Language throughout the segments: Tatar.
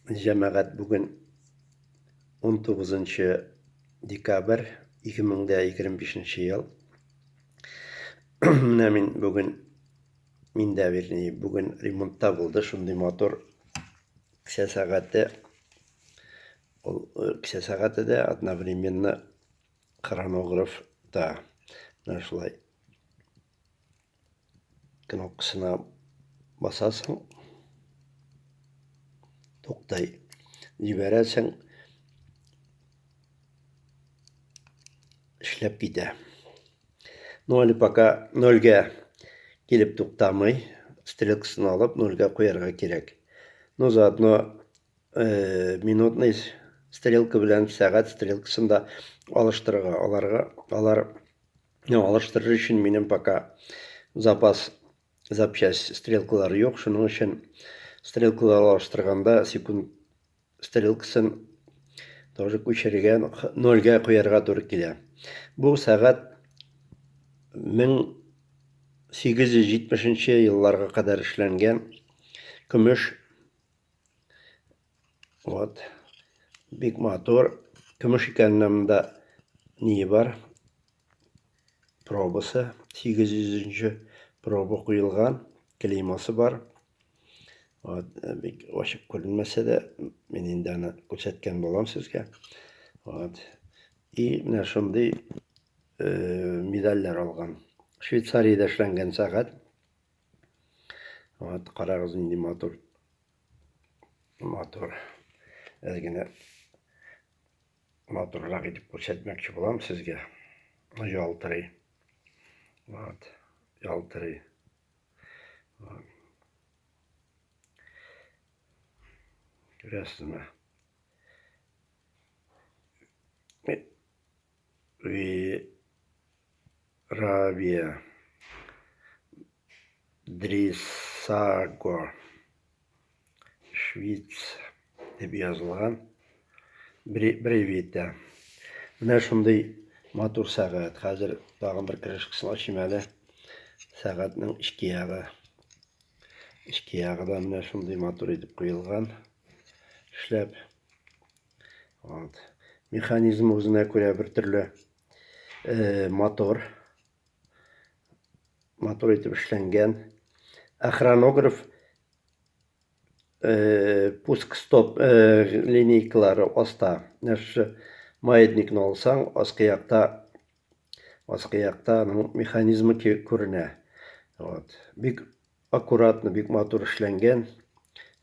Җәмәгать бүген 19 декабрь 2025 ел. Менә мин бүген миндә вернее бүген ремонтта булды шундый мотор кесә сәгате ул э, кесә сәгате дә одновременно хронограф та менә шулай кнопкасына басасың туктай җибәрәсең эшләп китә ну әле пока нольгә килеп туктамый стрелкасын алып нольгә куярга кирәк ну заодно э, минутный стрелка белән сәгать стрелкасын да алыштырырга аларга алар Менә алыштырыр өчен минем пока запас запчасть стрелкалары юк, шуның өчен стрелкалар алыштырганда секунд стрелкасын тоже күчерергә, нольгә куярга туры килә. Бу сәгать 1870 елларга кадәр эшләнгән көмеш Вот. Бик матур. Көмеш икәненә монда ние бар? Пробасы. 800-нче проба куелган. Клеймасы бар. Вот. Э, бик ачык күренмәсә дә, мин инде аны күрсәткән булам сезгә. Вот. И менә шундый э, медальләр алган. Швейцариядә эшләнгән сәгать. Вот, карагыз нинди матур Матур. Әз генә матуррак итеп күрсәтмәкче булам сезгә. Ялтырый. Вот. Ялтырый. Вот. Күрәсезме? Вирабия. Дрисаго. Швиц дип язылган. Бревита. Менә шундый матур сәгать. Хәзер тагын бер крышкасын ачыйм әле. Сәгатьнең эчке ягы. Эчке ягы да менә шундый матур итеп куелган. Эшләп. Вот. Механизм үзенә күрә бер төрле э, мотор. Мотор итеп эшләнгән. Ә хронограф э, пуск стоп э, линейкалары аста. Нәрсә маятникны алсаң, аскы якта Аскы якта аның механизмы күренә. Вот. Бик аккуратно, бик матур эшләнгән.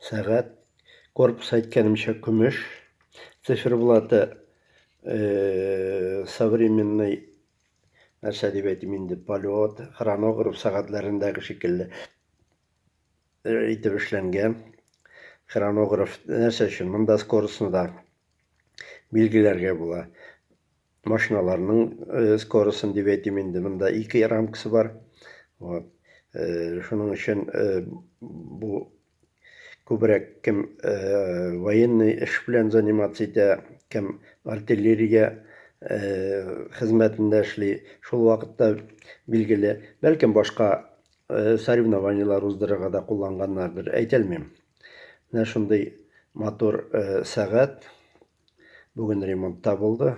Сәгать корпус әйткәнемчә көмеш. Циферблаты э, современный нәрсә дип әйтим инде, полет, хронограф сәгатьләрендәге шикелле э, итеп эшләнгән. Хронограф нәрсә өчен? Монда скоростьны да билгеләргә була. Машиналарның э, скоростын дип әйтим инде, монда ике рамкасы бар. Вот. Э, шуның өчен э, бу күбрәк кем э, военный эш белән заниматься итә, кем артиллерия э, хезмәтендә эшли. Шул вакытта билгеле, бәлкем башка э, соревнованиелар уздырырга да кулланганнардыр, әйтәлмим. Менә шундый матур э, сәгать. Бүген ремонтта булды.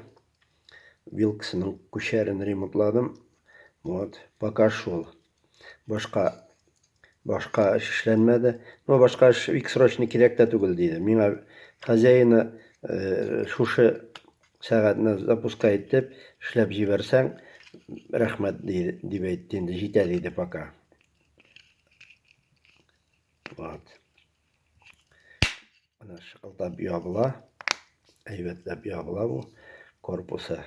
Вилксының күчәрен ремонтладым. Вот, пока шул. Башка башка эш эшләнмәде. Но башка эш бик срочно кирәк тә түгел диде. Миңа хозяина э, шушы сәгатьне запуска итеп эшләп җибәрсәң, рәхмәт дип әйтте инде, җитә диде пока. Вот. Менә шыкылдап ябыла. Әйбәтләп ябыла бу. Корпусы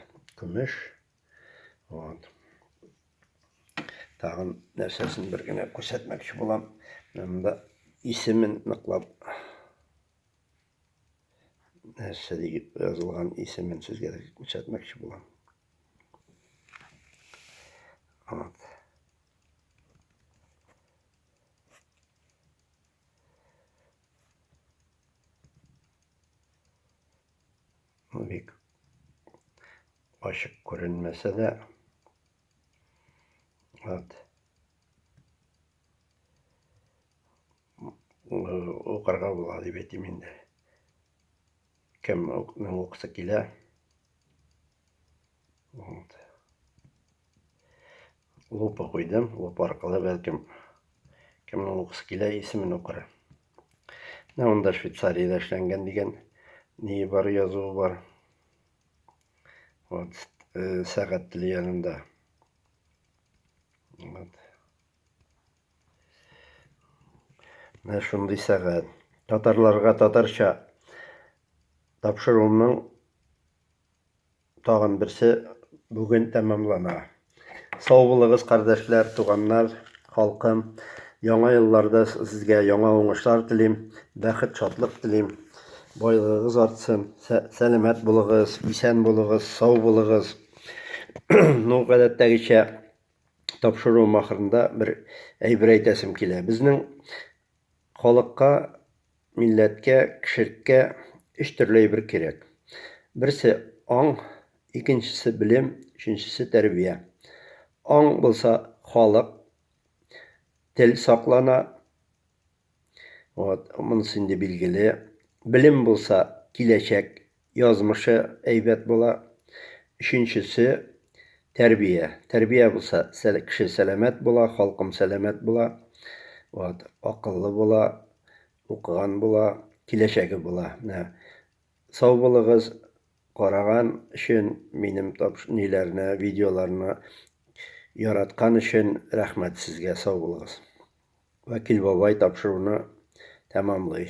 көмеш. Вот. Тагын нәрсәсен бер генә күрсәтмәкче булам. Менә монда исемен ныклап нәрсә дип язылган исемен сезгә күрсәтмәкче булам. Вот. Бик ачык күренмәсә дә, вот укырга була дип әйтим инде. Кемнең укысы килә. Вот. Лупа куйдым. Лупа аркылы бәлкем кемнең укысы килә, исемен укыр. Менә монда Швейцариядә эшләнгән дигән ни бар язуы бар. Вот, э, сәгать теле янында. Вот. Менә шундый сәгать. Татарларга татарча тапшыруымның Тагын берсе бүген тәмамлана. Сау булыгыз, кардәшләр, туганнар, халкым. Яңа елларда сезгә яңа уңышлар телим, бәхет, шатлык телим. Байлыгыгыз артсын, сәламәт булыгыз, исән булыгыз, сау булыгыз. Ну, гадәттәгечә, тапшыруым ахырында бер әйбер әйтәсем килә. Безнең Халыкка, милләткә, кешелеккә өч төрле әйбер кирәк. Берсе, аң, икенчесе, белем, өченчесе, тәрбия. Аң булса, халык, тел саклана, вот, монысы инде билгеле. Белем булса, киләчәк язмышы әйбәт була. Өченчесе, тәрбия. Тәрбия булса, кеше сәламәт була, халкым сәламәт була. Вот, акыллы була, укыган була, киләчәге була. Менә сау булыгыз, караган өчен минем ниләрне, видеоларны яраткан өчен рәхмәт сезгә, сау булыгыз. Вәкил бабай тапшыруны тәмамлый.